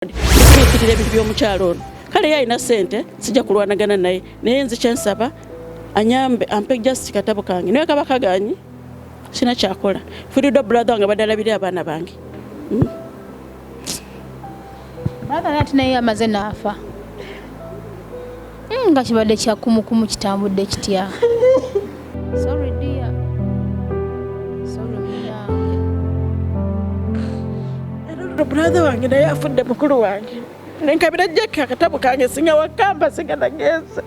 Ford ekiikirira ebintu by'omukyalo ono kale ye alina ssente sijja kulwanagana naye naye nzi kyensaba anyambe ampe just katabo kange naye kaba kaganyi sina kyakola firido brother wange badalabire abaana bange hmm? brother nati naye amaze naafa Hmm, nga kibadde kyakumukumu kitambudde kitya brother wange naye afudde mukulu wange nenkabira jjekka akatabo kange singa wakamba singa nagenze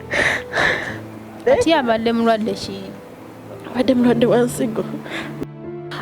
ati abadde mulwadde ki abadde mulwadde wa nsigo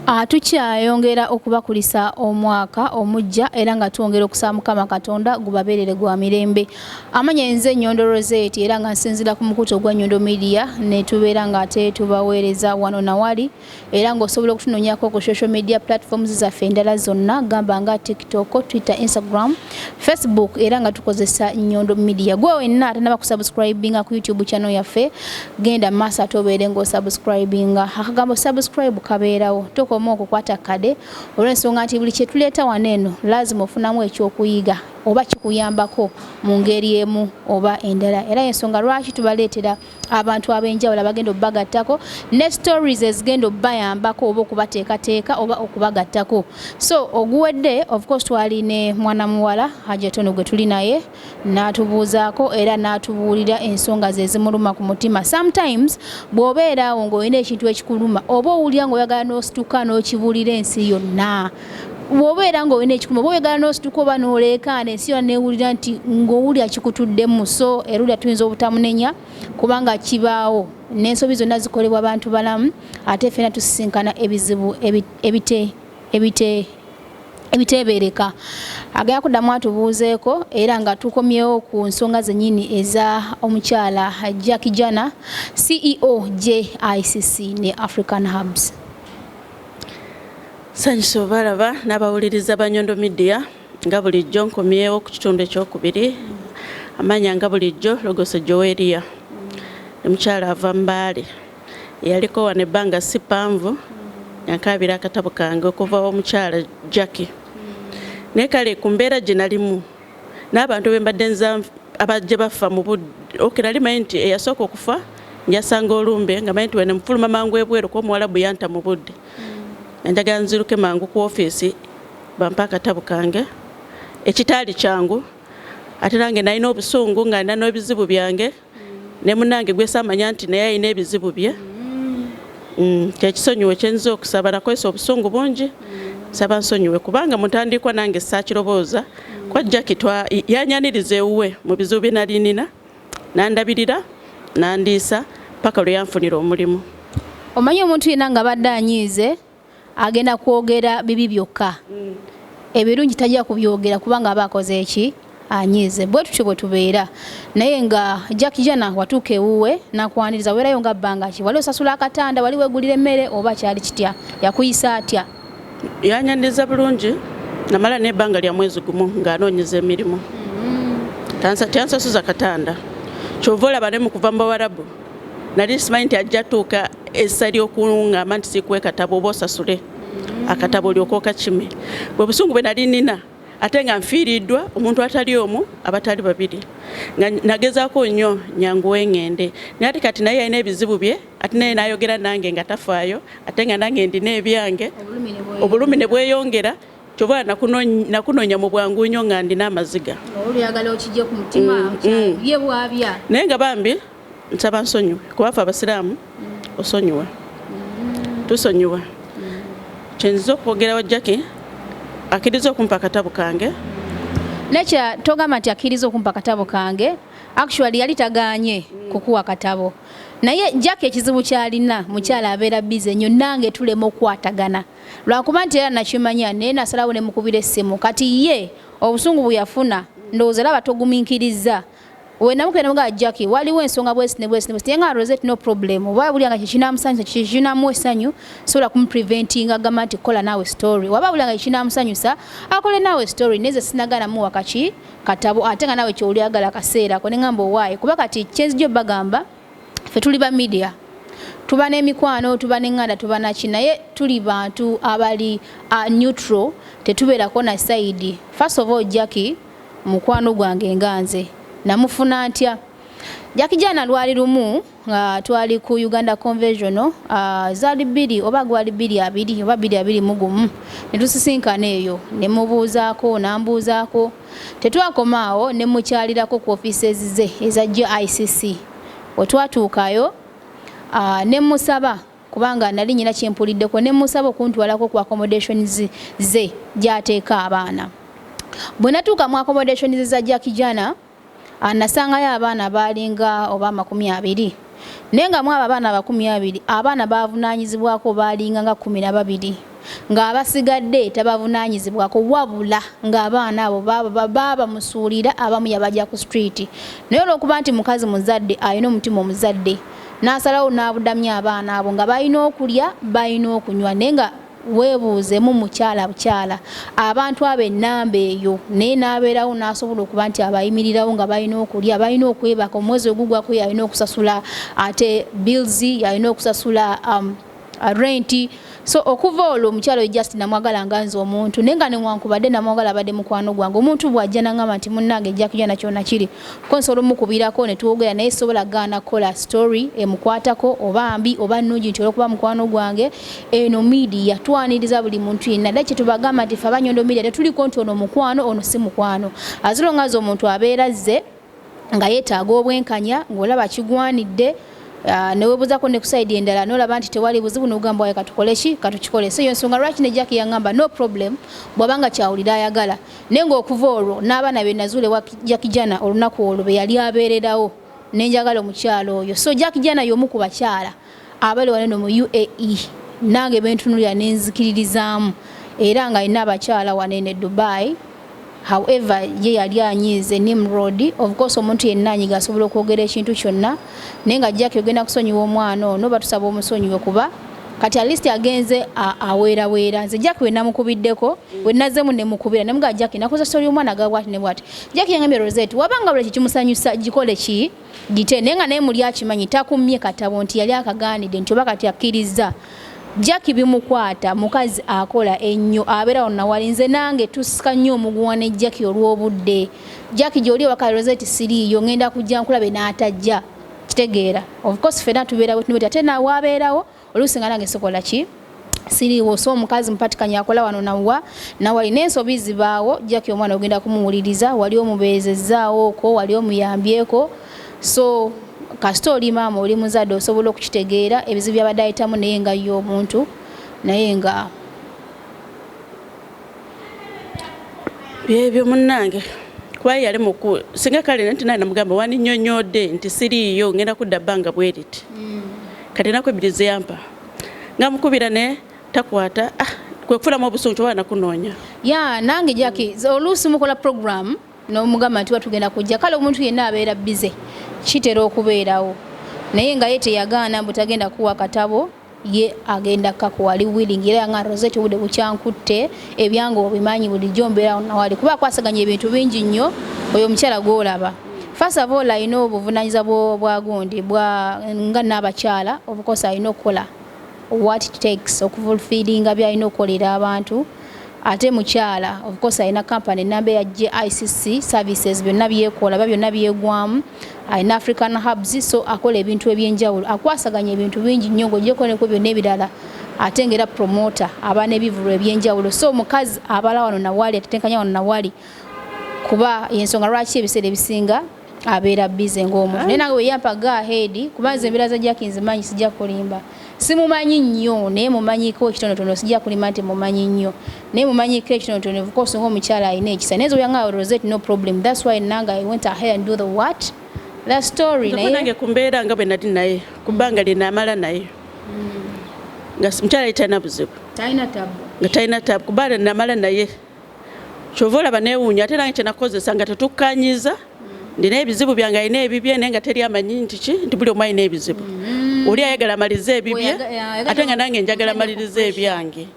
Ah, tukyayongera okubakulisa omwaka omujja era nga twongera okusaba mukama katonda gubabeerere gwa mirembe amanya enze enyondo roseti era nga nsinzira ku mukutu ogwa nyondo media netubeera nga ate tubaweereza wano nawali era ngaosobola okutunonyako ku social media platforms zaffe endala zonna gamba nga tiktok twitter instagram facebook era nga tukozesa nyondo media gwe wenna atanaba kusubscribinga ku youtube channel yaffe genda maaso ate obeere ng'osubscribinga akagambo subscribe kabeerawo tokoma okukwata kade olw'ensonga nti buli kyetuleeta wano eno laazima ofunamu ekyokuyiga oba kikuyambako mu ngeri emu oba endala era yensonga lwaki tubaleetera abantu ab'enjawulo abagenda okubagattako ne stories ezigenda okubayambako oba okubateekateeka oba okubagattako so oguwedde of course twali ne mwana muwala hajatono gwe tuli naye natubuuzaako era natubuulira ensonga ze zimuluma ku mutima sometimes bw'obeera awo ng'olina ekintu ekikuluma oba owulira ng'oyagala n'osituka n'okibuulira ensi yonna bwobeera nga olina ekikuma oba oyagala nosituka oba noleekaana ensi yona newulira nti ngaowulira kikutuddemu so erulya tuyinza obutamunenya kubanga kibaawo n'ensobi zonna zikolebwa bantu balamu ate fena tusisinkana ebizibu ebite ebite ebiteebereka agenda kuddamu atubuuzeeko era nga tukomyewo ku nsonga zennyini eza omukyala jacki jana ceo jicc ne african hubs sanyusa obalaba n'abawuliriza banyondo midia nga bulijjo nkomyewo ku kitundu ekyokubiri amanya nga bulijjo logoso joweria omukyala ava mbaale Yaliko wano ebbanga si ppanvu yankaabira akatabo kange okuva omukyala Jackie naye kale ku mbeera gye nalimu n'abantu be mbadde nza abajje baffa mu budde oke nali manyi nti eyasooka okufa njasanga olumbe nga manyi nti wene mufuluma mangu ebweru kuba omuwalabu yanta mu budde enjagala nziruke mangu ku ofiisi bampa akatabo kange ekitaali kyangu ate nange nalina obusungu nga nina n'ebizibu byange ne munange gwesamanya nti naye alina ebizibu bye mm, kyekisonyiwe kyenyiza okusaba nakozesa obusungu bungi saba nsonyiwe kubanga mutandikwa nange sakirobooza kwa jaki yanyaniriza ewuwe mu bizibu bye nalinina nandabirira nandiisa paka lwe yanfunira omulimu omanyi omuntu yena nga badde anyiize agenda kwogera bibi byokka mm. ebirungi tajja kubyogera kubanga aba akoze eki anyiize bwe tutyo bwe tubeera naye nga jack jana watuuka ewuwe nakwaniriza weerayo nga bbanga ki wali osasula akatanda wali wegulira emmere oba kyali kitya yakuyisa atya yanyaniriza bulungi namala n'ebbanga lya mwezi gumu ng'anoonyeza emirimu mm-hmm. tansasuza katanda kyova olaba ne mu kuva mu bawarabu nali simanyi nti ajja tuuka essa ly'okuŋŋamba nti sikuwa ekatabo oba osasule akatabo olyoka okakime bwe busungu bwe nali nina ate nga nfiiriddwa omuntu atali omu abatali babiri nga nagezaako nnyo nyanguwe ng'ende naye ati kati naye yalina ebizibu bye ate naye n'ayogera nange nga tafaayo ate nga nange ndina ebyange obulumi ne bweyongera kyova nakunoonya mu bwangu nnyo nga ndina amaziga mm, mm. naye nga bambi nsaba nsonyiwe kubafe abasiraamu mm. osonyiwa tusonyiwa kyenziza okwogerawo jacki akkiriza okumpa akatabo kange nekya togamba nti akkiriza okumpa akatabo kange actually yali tagaanye kukuwa katabo naye jacki ekizibu kyalina mukyala abeera bize nnyo nange tulema okukwatagana lwakuba nti era nakimanya naye nasalawo ne mukubira essimu kati ye obusungu bwe yafuna ndowooza laba toguminkiriza wenamukenda mugaa jacki waliwo ensonga bwesi ne bwesi nebwesi nga rosette no problem oba buli nga kikinamusanyusa kikinamu essanyu sobola kumupreventinga agamba nti kola naawe story waba buli nga kikinamusanyusa akole naawe story neze sinagana muwa kaki katabo ate nga naawe kyolyagala kaseerako nengamba owaaye kuba kati kyenzija obagamba fe tuli ba media tuba n'emikwano tuba n'eŋŋanda tuba naki naye tuli bantu abali uh, neutral tetubeerako na sayidi first of all jacki mukwano gwange nga nze namufuna ntya jacki jana lwali lumu nga uh, twali ku uganda convention uh, zali bbiri oba gwali bbiri abiri oba bbiri abiri mugumu ne tusisinkana eyo ne mubuuzaako nambuuzaako Tetwakoma awo ne mmukyalirako ku ofiiseezi ze eza GICC. Bwe twatuukayo ne mmusaba kubanga nnali nnina kye mpuliddeko ne mmusaba okuntwalako ku accommodations ze gy'ateeka abaana. Bwe natuuka mu accommodations za Jackijana A Nasangayo abaana abaalinga oba amakumi abiri, naye nga mw'abo abaana abakumi abiri, abaana b'avunaanyizibwako baalinga nga kkumi na babiri, ng'abasigadde tabavunaanyizibwako, wabula ng'abaana abo baba bamusuulira, abamu yabagya ku street, naye olw'okuba nti mukazi muzadde alina omutima omuzadde, n'asalawo n'abudamya abaana abo nga balina okulya, balina okunywa, naye nga. Weebuuzemu mukyala bukyala abantu abo ennamba eyo naye n'abeerawo n'asobola okuba nti abayimirirawo nga balina okulya balina okwebaka omwezi ogugwako yalina okusasula ate bills yalina okusasula um, renti so okuva olwo omukyalo just namwagala nga nze omuntu naye nga newankubadde namwagala abadde mukwano gwange omuntu bw'ajja nangamba nti munnange ejja kuja nakyona kiri Ko nsobola omukubirako ne twogera naye sisobola gaana kukola story emukwatako oba mbi oba nnungi nti olwokuba mukwano gwange eno midiya twaniriza buli muntu yenna dda kyetubagamba nti fe abanyondo midiya tetuliko nti ono mukwano ono si mukwano azilonga azi omuntu abeera zze nga yeetaaga obwenkanya ng'olaba kigwanidde Ah, newebuzako nekusaidi endala nolaba nti tewali buzibu nogamba waye katukoleki katukikole so yonsonga lwaki ne jaki yangamba no problem bwabanga kyawulira ayagala Naye ng'okuva olwo n'abaana be nazuula ewa Jakijana olunaku olwo be yali abeererawo ne njagala omukyala oyo. So Jakijana y'omu ku bakyala abali wano eno mu UAE nange be ntunuulira ne nzikiririzaamu era ng'alina abakyala wano eno e Dubai however ye yali anyiize Nimrod of course omuntu yenna anyiga asobola okwogera ekintu kyonna naye nga jaki ogenda kusonyiwa omwana ono batusaba omusonyiwe kuba kati at least agenze aweera weera nze jack we namukubiddeko we nazemu ne mukubira ne mga jack nakoza story omwana ga what ne what jack yangambye Rosette wabanga buli kimusanyusa gikole ki gite nenga naye muli akimanyi takumye katabo nti yali akagaanide nti oba kati akiriza Jackie bimukwata mukazi akola ennyo abeera wano nawali nze nange tusika nnyo omuguwa ne Jackie olw'obudde Jackie gy'oli ewaka aloza eti siriiyo ngenda kujja nkulabe n'atajja kitegeera of course ffena tubeera wetunubeti ate nawe abeerawo oluusi nga nange sikola ki siriiwo so omukazi mupatikanya akola wano nawa nawali n'ensobi zibaawo Jackie omwana ogenda kumuwuliriza wali omubeezezzaawooko wali omuyambyeko so kasita oli maama oli muzadde osobola okukitegeera ebizibu byabadde ayitamu naye nga ye omuntu naye nga byebyo munnange kuba yali muku singa kale nti naye namugamba wandinyonyodde nti siriiyo ngenda kudda bbanga bweriti mm. kati enaku ebbiri zeyampa nga mukubira ne takwata ah, kwekufulamu obusungu kyoba nakunoonya ya nange jaki oluusi mukola programu n'omugamba nti watugenda kujja kale omuntu yenna abeera bize kitera okubeerawo naye nga ye teyagaana mbu tagenda kuwa katabo ye agenda kakuwa ali willing era nga rosette obudde bukyankutte ebyange obimanyi bulijjo mbeerawo nawali kuba akwasaganya ebintu bingi nnyo oyo omukyala gwolaba fasa boola alina obuvunanyiza bwagundi nga naabakyala obukosa alina okukola what it takes okufulfillinga byalina okukolera abantu ate mukyala of course alina company namba eya GICC services byonna byekola ba byonna byegwamu alina African hubs so akola ebintu ebyenjawulo akwasaganya ebintu bingi nnyo ng'ogyeko neko byonna ebirala ate ng'era promoter aba n'ebivulu ebyenjawulo so omukazi abala wano nawali atetenkanya wano nawali kuba yensonga lwaki ebiseera ebisinga abeera bize ng'omuntu naye nange weyampa go ahead kuba nze embeera za jaki nzimanyi sijja kulimba simumanyi nnyo naye mumanyiko ekitonotono sijja kulimba nti mumanyi nnyo naye mumanyiko ekitonotono evukosi ngaomukyala alina ekisa naye zoyanga rosette no problem thats why nanga i went ahead and do the what the story nayenange kumbeera nga bwe nali naye kubbanga lyenamala naye hmm. nga mukyala ytalina buzibu nga talina tabu kuba namala naye kyova olaba newuunya ate nange kyenakozesa nga tetukkanyiza ndina ebizibu byange alina ebibye naye nga teri amanyi nti ki nti buli omu alina ebizibu mm-hmm. oli ayagala amalize ebibye ate nga nange njagala amalirize ebyange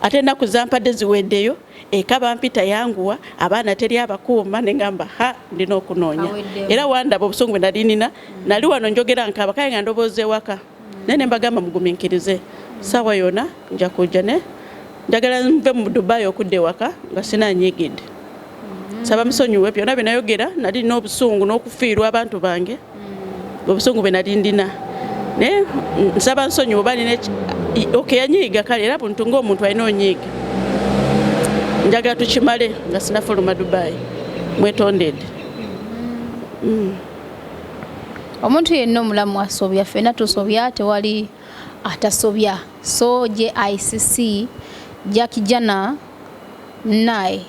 ate ennaku zampadde ziweddeyo eka bampita yanguwa abaana teri abakuuma ne ngamba ha ndina okunoonya era wandaba obusungu bwe nali nina nali wano njogera nkaaba kale nga ndobooza ewaka naye nembagamba muguminkirize saawa yona nja kujja ne njagala nve mu dubai okudda ewaka nga sina nyigidde saba musonyiwe byona byenayogera nali nina obusungu n'okufiirwa abantu bange obusungu bwe nali ndina naye nsaba nsonyiwe oba nina oke yanyiiga kale era buntu ngaomuntu alina onyiiga njagala tukimale nga sinafuluma dubai mwetondede mm. omuntu yenna omulamu asobya fena tusobya tewali atasobya so jicc jakijana naye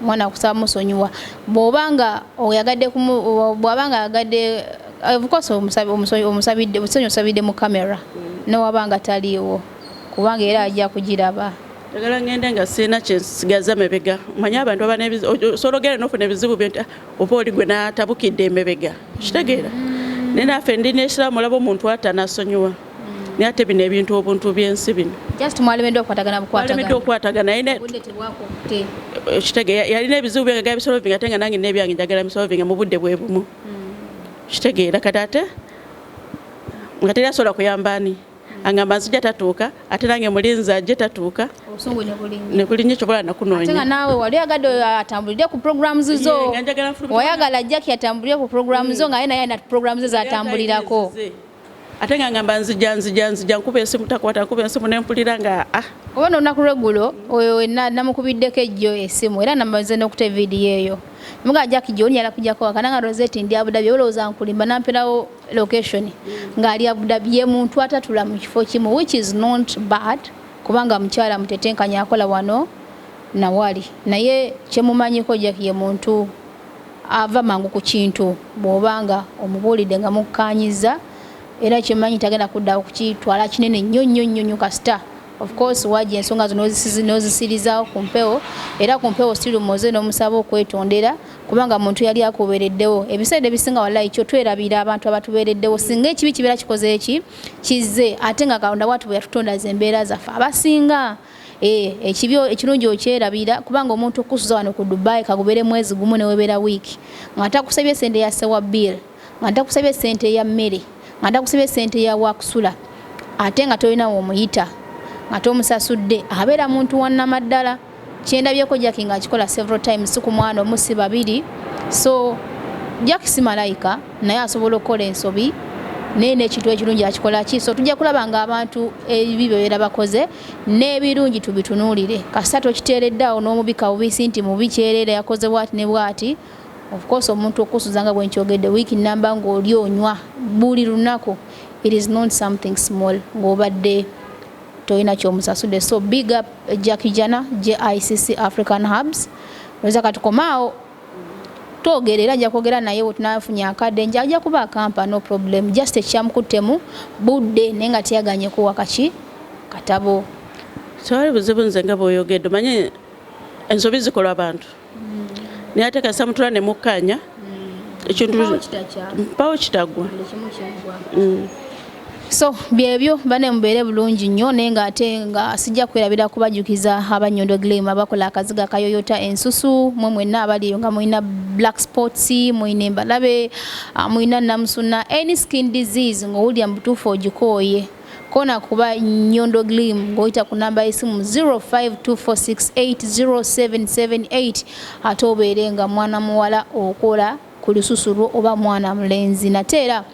mwana kusaba musonyiwa bwoba nga oyagadde bwaba nga ayagadde ofcourse omusabidde busonyi osabidde mu camera newaba nga taliiwo kubanga era ajja kugiraba njagala ngende nga sirina kyensigaza mebega manye abantu abanebisologere nofuna ebizibu byonti ah, oba oli gwe natabukidde emebega kitegeera naye naffe ndi nesiramu olaba omuntu ata nasonyiwa naye ate bino ebintu obuntu byensi bino mwalemeddwa okukwatagana naye eh, kitege yalina ebizibu byange ga bisolovinga ate nga nange nebyange njagala bisolovinga mu budde bwe bumu hmm. kitegeera kati ate nga teri asobola kuyamba ani angamba nzija tatuuka ate nange mulinzi ajje tatuuka nebulinyo kyobola nakunoonya naawe wali oyagadde atambulire ku programs zo wayagala jaki atambulire ku program zo ngaye naye na program ze zatambulirako ate nga ngamba nzija nzija nzija nkuba esimu takwata nkuba esimu nempulira nga ah oba nonaku lwegulo oyo wena namukubiddeko ejjo esimu era namaze nokute vidiyo eyo muga jaki gyonyala kujako wakana nga roseti ndi abudabi olowooza nkulimba namperawo location ng'ali Abu Dhabi ye muntu atatula mu kifo kimu which is not bad kubanga mukyala mutetenkanya akola wano nawali naye kyemumanyiko jack ye muntu ava mangu ku kintu bw'obanga omubuulidde nga mukkaanyiza era kyemanyi tagenda kudda okukitwala kinene nnyo nnyo nnyo nnyo kasita of course waja ensonga zo n'ozisirizawo ku mpewo era ku mpewo sirimuze n'omusaba okwetondera kubanga muntu yali akubeereddewo ebiseera ebisinga walayi kyo twerabira abantu abatubeereddewo singa ekibi kibeera kikoze eki kizze ate nga katonda watu bwe yatutonda ze embeera zaffe abasinga eh, ekibi ekirungi okyerabira kubanga omuntu okusuza wano ku dubai kagubeere mwezi gumu newebeera wiiki ng'ate akusabye sente yasewa bill nga ntakusabye ssente ya mmere nga ntakusabye ssente ya wakusula ate nga tolina womuyita nga tomusasudde abeera muntu wanamaddala kyendabyeko jaki nga akikola several times si ku mwana omu si babiri so jaki si malayika naye asobola okukola ensobi naye nekintu ekirungi akikola ki so tujja kulaba nga abantu ebibi byebeera bakoze n'ebirungi tubitunuulire kasita tokiteereddaawo n'omubika bubisi nti mubi kyereera yakoze bwati ne bwati Of course omuntu okusuza nga bwenkyogedde wiiki namba ng'oli onywa buli lunaku it is not something small ng'obadde tolina kyomusasude so big up Jackie Jana JICC African Hubs oza katukomaawo twogera era nja kwogera naye wetunafunye akadde nja ajja kuba akampa no problem just ekyamukuttemu budde naye nga teyaganye kuwa kaki katabo tewali buzibu nze nga bwoyogedde manye ensobi zikolwa abantu naye ate kasita mutula ne mukkaanya ekintu mpawo kitagwa mm. so byebyo bane mubeere bulungi nnyo naye nga ate nga sijja kwerabira kubajjukiza abanyondo glam abakola akaziga kayoyota ensusu mwe mwenna abali eyo nga mulina black sports mulina embalabe ah, mulina namusuna any skin disease ng'owulira mu butuufu ogikooye kona kuba Nyondo Glim ng'oyita ku namba y'essimu 0524680778 ate obeere nga mwana muwala okola ku lususu lwo oba mwana mulenzi nate era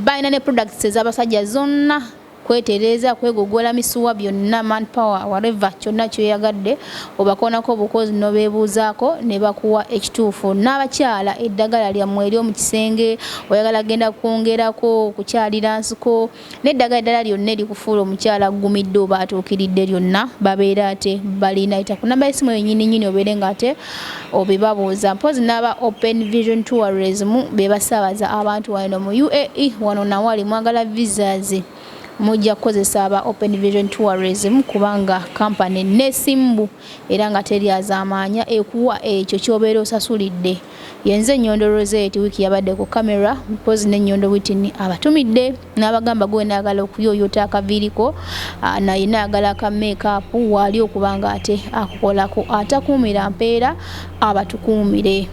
balina ne products ez'abasajja zonna kwetereeza kwegogola misuwa byonna man power wareva kyonna kyoyagadde obakoonako obukozi nobeebuuzaako ne bakuwa ekituufu n'abakyala eddagala lyammwe eryo mu kisenge oyagala genda kwongerako okukyalira nsiko N'eddagala eddala lyonna erikufuula omukyala aggumidde oba atuukiridde lyonna babeera ate balinayita ku namba y'essimu eyo nyini nyini obeere nga ate obibabuuza mpoozi n'aba open vision tourism be basaabaza abantu wano mu uae wano nawali mwagala visas mujja kukozesa aba open vision tourism kubanga kampani nesimbu era nga teryazaamaanya ekuwa ekyo ky'obeera osasulidde Yenze Nyondo Rosette wiiki yabadde ku camera mpozzi ne Nyondo Whitney abatumidde n'abagamba gwe wena ayagala okuyooyoota akaviiri ko na yena ayagala ka makeup waali okuba nga ate akukolako atakuumira mpeera abatukuumire.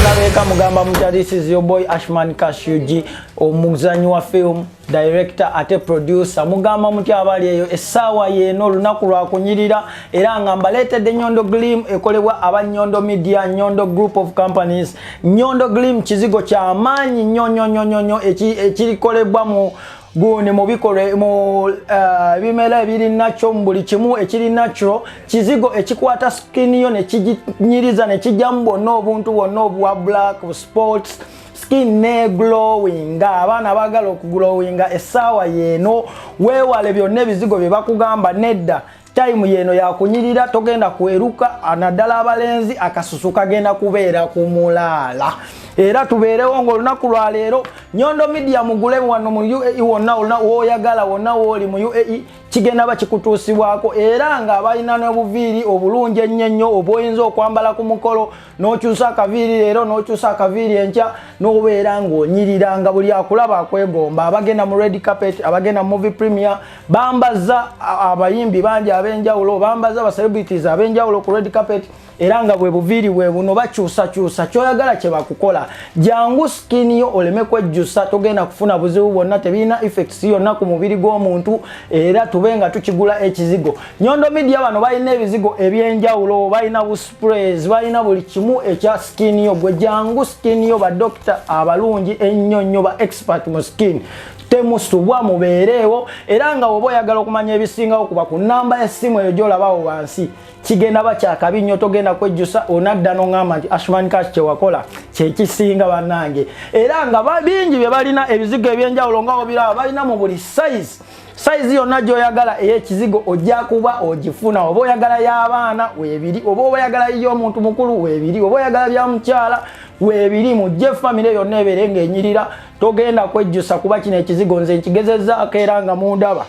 Nalabeka mugamba mutya this is your boy Ashman Cash UG omuzanyi wa film. director ate producer mugamba mutya abali eyo essaawa yeeno olunaku lwakunyirira era nga mbaleetedde nyondo glim ekolebwa aba nyondo media nyondo group of companies nyondo glim kizigo kyamaanyi nyo nyo nyo nyo nyo ekirikolebwa mu gundi mu bikolwa mu eh, ebimera ebiri nakyo mu buli kimu ekiri nakyo kizigo ekikwata skin yo ne kiginyiriza ne kijjamu bwonna obuntu bwonna obwa black sports skin ne glowing abaana bagala okuglowinga essaawa yeeno weewale byonna ebizigo bye bakugamba nedda time yeeno yakunyirira togenda kweruka naddala abalenzi akasusu kagenda kubeera ku mulaala era tubeerewo ngaolunaku lwaleero nyondo midia mugule wano mu uae wonna olna woyagala wonna wooli mu uae kigenda ba kikutuusibwako era nga balina n'obuviiri obulungi ennyo ennyo obwoyinza okwambala ku mukolo n'okyusa akaviiri leero n'okyusa akaviiri enkya n'obeera ng'onyirira nga buli akulaba akwegomba abagenda mu red carpet abagenda mu movie premier bambaza abayimbi bangi ab'enjawulo bambaza ba celebrities ab'enjawulo ku red carpet era nga bwe buviiri bwe buno bakyusakyusa kyoyagala kye bakukola jangu sikini yo oleme kwejjusa togenda kufuna buzibu bwonna tebirina effects yonna ku mubiri gw'omuntu era tube nga tukigula ekizigo nyondo midia bano balina ebizigo eby'enjawulo balina sprays balina buli kimu ekya skin yo gwe jangu skin yo badokita abalungi ennyo nnyo ba expert mu skin temusubwa mubeereewo era nga woba oyagala okumanya ebisingawo kuba ku namba yessimu eyo gyolabawo wansi kigenda bakyakabi nnyo togenda kwejjusa onadda noŋamba nti ashman cash kyewakola kyekisinga bannange era nga bingi bye balina ebizigo ebyenjawulo nga obiraba balina mu buli size sayizi yonna gy'oyagala ey'ekizigo ojja kuba ogifuna oba oyagala y'abaana weebiri oba oba oyagala y'omuntu mukulu weebiri oba oyagala bya mukyala weebiri mujje famire yonna ebeere ng'enyirira togenda kwejjusa kuba kino ekizigo nze nkigezezaako era nga mundaba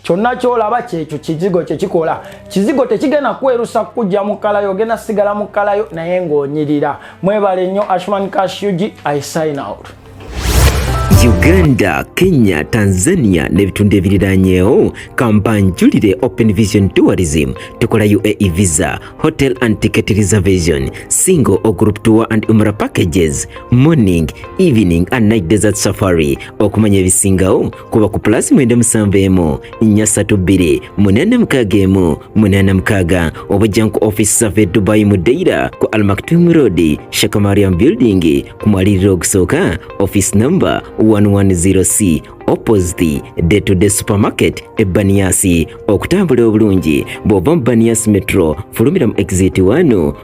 kyonna kyolaba kyekyo kizigo kyekikola kizigo tekigenda kwerusa kujja mukalayo ogenda sigala mukalayo naye ng'onyirira mwebale nnyo ashman cash ug i sign out Uganda, Kenya, Tanzania n'ebitundu ebiriraanyeewo kampanjulire Open Vision Tourism tukola UAE visa, hotel and ticket reservation, single or group tour and umra packages, morning, evening and night desert safari okumanya ebisingawo kuba ku pulasi mwenda musanvu emu nnya ssatu bbiri munaana mukaaga emu munaana mukaaga obajja ku office safe dubai mu deira ku almaktum road shakamariam building ku mwaliriro ogusooka office number 110c opposite day to day supermarket ebbaniyasi okutambula obulungi bw'ova mu baniyasi metro fulumira mu exit 1